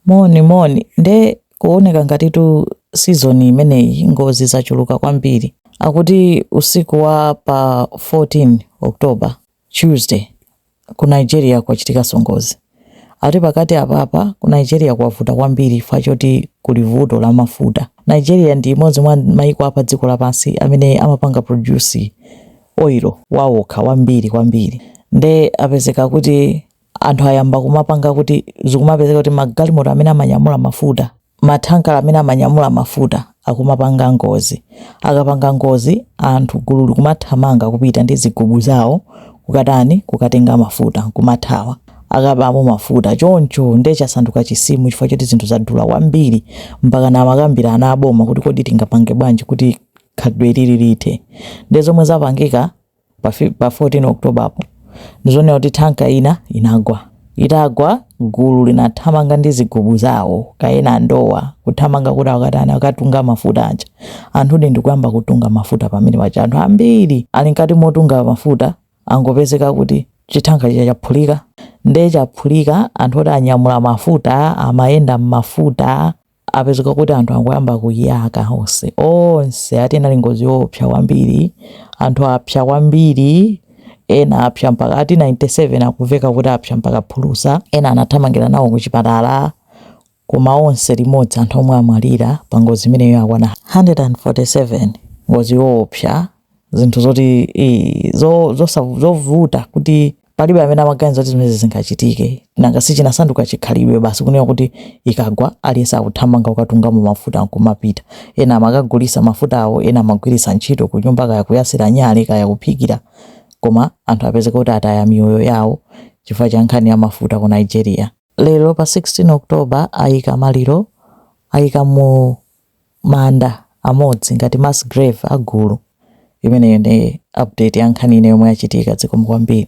Moni moni, nde kuoneka ngatitu season imeneyi ngozi zachuluka kwambiri, akuti usiku wa pa 14 October, Tuesday, ku Nigeria kwachitikaso ngozi, akuti pakati apapa ku Nigeria kwavuta kwambiri chifukwa choti kuli vuto la mafuta, Nigeria ndi imodzi mwa maiko a padziko lapansi amene amapanga produce oil wawo okha wambiri kwambiri nde apezeka kuti. anthu ayamba kumapanga kuti zikumapezeka kuti magalimoto amene amanyamula mafuta mathanka amene amanyamula mafuta akumapanga ngozi akapanga ngozi anthu gulu likumathamanga kupita ndi zigubu zawo kukatani kukatenga mafuta kumathawa akabamo mafuta choncho nde chasanduka chisimu chifukwa choti zinthu zadula kwambiri mpaka amakambirana aboma kuti kodi tingapange bwanji kuti khalidwe ili lithe nde zomwe zapangika Pa fi- pa 14 October apo ndizonena kuti thanka ina inagwa itagwa gulu linathamanga ndi zigubu zawo kaya ena ndowa kuthamanga kuti akatani akatunge mafuta aja anthu nde ndikuyamba kutunga mafuta pamene paja anthu ambiri ali mkati motunga mafuta angopezeka kuti chithanka chija chaphulika nde chaphulika anthu oti anyamula mafuta amayenda m'mafuta Apezeka kuti anthu angoyamba kuyaka onse onse ati inali ngozi yoopsa kwambiri anthu apsa kwambiri ena apsa mpaka ati 97 akumveka kuti apsa mpaka phulusa ena anathamangira nawo ku chipatala koma onse limodzi anthu omwe amwalira pa ngozi imeneyo akwana 147 ngozi yoopsa zinthu zoti zovuta zo, zo, zo, kuti Palibe amene amaganiza kuti zimenezi zingachitike, nanga si chinasanduka chikhalidwe basi kunena kuti ikagwa aliyense akuthamanga kukatungamo mafuta n'kumapita. Ena amakagulitsa mafutawo, ena amagwiritsa ntchito kunyumba, kaya kuyatsira nyale, kaya kuphikira. Koma anthu apezeka kuti ataya miyoyo yawo chifukwa cha nkhani ya mafuta ku Nigeria. Lero pa 16 October aika maliro, aika mu manda amodzi ngati mass grave a gulu. Imeneyo ndi update ya nkhani ina yomwe yachitika. Zikomo kwambiri.